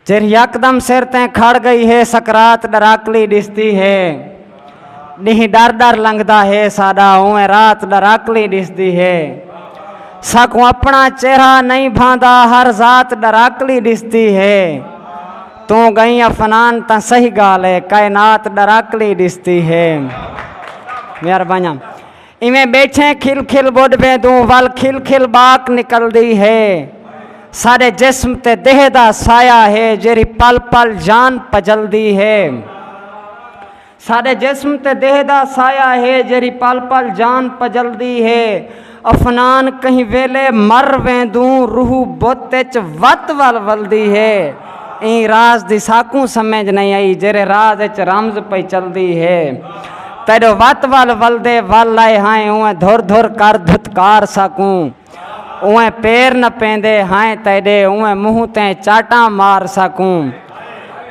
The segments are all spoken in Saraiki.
جیڑھی یکدم سر تیں کھڑ گئی ہے سکرات ڈراکلی ڈسدی ہے ڈینہہ ڈر ڈر لنگھدا ہے ساڈا اونویں رات ڈراکلی ڈسدی ہے ساکوں اپنا چہرہ نہیں بھاندا ہر ذات ڈراکلی ڈسدی ہے توں گئیں افنان تاں صحیح گالھ ہے کائنات ڈراکلی ڈسدی ہے مہربانیاں ایویں ٻیٹھیں کھل کھل ٻڈ ویندوں ول کھل کھل ٻاک نکلدی ہے ساݙے جسم تے دیہہ دا سایہ ہے جیڑھی پل پل جان پجلدی ہے ساݙے جسم تے دیہہ دا سایہ ہے جیڑھی پل پل جان پجلدی ہے افنان کہیں ویلے مر ویندوں روح بت اچ وت ول ولدی ہے ایں راز دی ساکوں سمجھ نئیں آئی جیرھے راز اچ رمز پئی چلدی ہے۔ تیڈو وت ول ولدے ول آئے ہائیں اونویں دھر دھر کر دھتکار ساکوں اونویں پیر نپیندے ہائیں تیڈے اونویں منہ تے چاٹاں مار ساکوں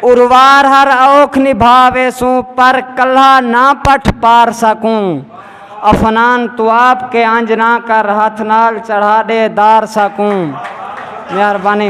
اروار ہر اوکھ نبھا ویسوں پر کلھا نہ پٹھ پار ساکوں افنان توں آپ کے انج نہ کر ہتھ نال چڑھا ڈے دار ساکوں مہربانی۔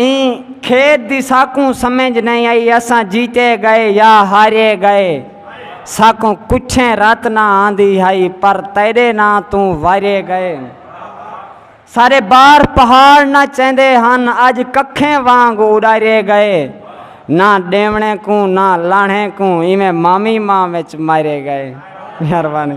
ایں کھیݙ دی ساکوں سمجھ نئیں آئی اساں جیتے ڳئے یا ہارے ڳئے ساکوں کچھیں رت نہ آندی ہئی پر تیݙے ناں توں وارے ڳئے سارے بار پہاڑ نہ چیندے ہن اج ککھیں وانگ اڈارے ڳئے نہ ڈیونے کوں نہ لاہنے کوں ایویں مامی ماں وچ مارے ڳئے مہربانی